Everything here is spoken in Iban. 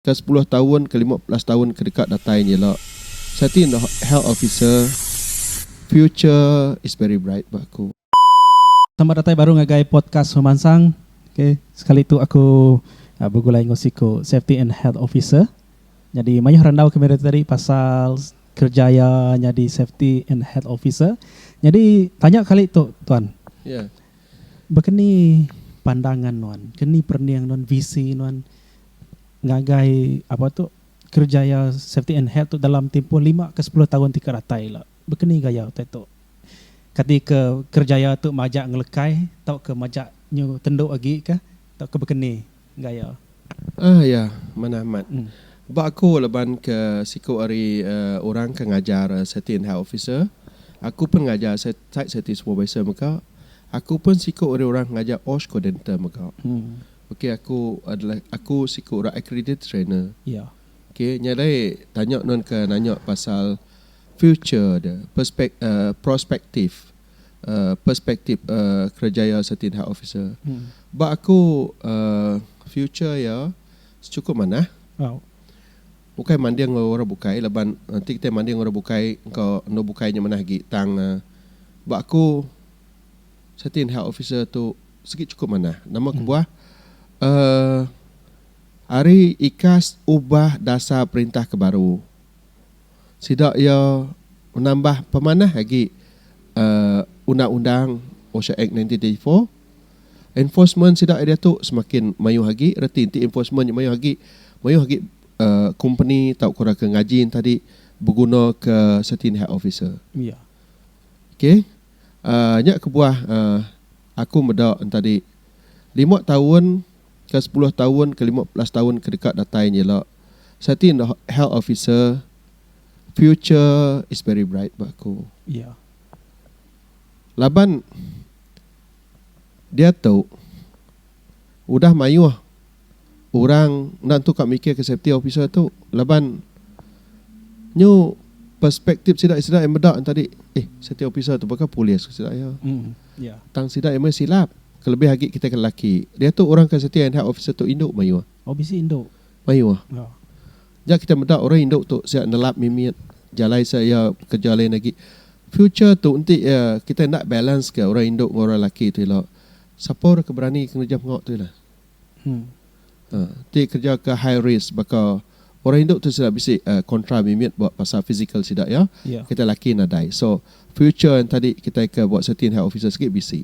ke sepuluh taun ke lima belas taun ke deka datai nya ila, Siti Noh, Health Officer, Future is very bright, ba ku. Selamat datai baru ngagai podcast pemansang. Ok, sekali tu aku begulai enggau siku Safety and Health Officer. Nyadi mayuh randau kami ari tadi pasal kerja iya nyadi Safety and Health Officer. Nyadi tanya kali tu tuan. Ya. Baka ni pandangan nuan, keni perening nuan, visi nuan ngagai apa tu kerejaya safety and health tu dalam timpuh lima ke sepuluh taun ti ke datai ila. Baka ni gaya utai tu? Kati ke kerejaya tu majak ngelekai tauka majak nyu tendu agi kah tauka baka ni gaya? Ahh iya, manah amat. Ba aku laban ke siku ari orang ke ngajar safety and health officer, aku pun ngajar site safety supervisor mega, aku pun siku ari orang ke ngajar OSH coordinator mega. Okay aku adalah aku siku orang accredited trainer. Iya. Okay nya dai tanya nuan ke nanya pasal future dia perspek prospektif uh perspektif uh kerejaya Satin Hak Officer. Ba aku uh future iya secukup manah. Au. Ukai manding enggau orang bukai laban enti kitai manding enggau orang bukai engka endur bukai nya manah agi tang uh ba aku Citian Health Officer tu sigi chukup manah. Nama kebuah? Uhh ari ikas ubah dasar perintah ke baru, sida iya menambah pemanah agi uhh undang-undang OSHA Act nineteen thirty four. Enforcement sida ari diatu semakin mayuh agi reti enti enforcement nya mayuh agi, mayuh agi uhh kompeni tauka orang ke ngajin tadi begunaka Citian Health Officer. Okay. Nya kebuah aku meda entadi lima taun ke sepuluh taun ke lima belas taun ke deka datai nya ila Siti Noh Health Officer future is very bright ba aku iya laban diatu udah mayuh orang enda entu ka mikirka safety officer tu laban nyu perspektip sida sida iya meda enti adi eh safety officer tu baka polis ke sida iya. Tang sida iya meh silap kelebih agi kitai ke lelaki. Diatu orang ke safety and health officer tu indu mayuh. Mayuh. Nya kitai meda orang indu tu sia nelap mimit jalai sia iya bekerja lain agi. Future tu enti iya kitai enda balance ka orang indu enggau orang lelaki tu ila sapa orang ke berani ke ngereja menga tu ila. Ti kereja ke high risk baka orang indu tu sida bisi kontra mimit ba pasal fizikal sida iya. Kitai laki nadai. So future enti kitai ke buat safety and health officers agi bisi.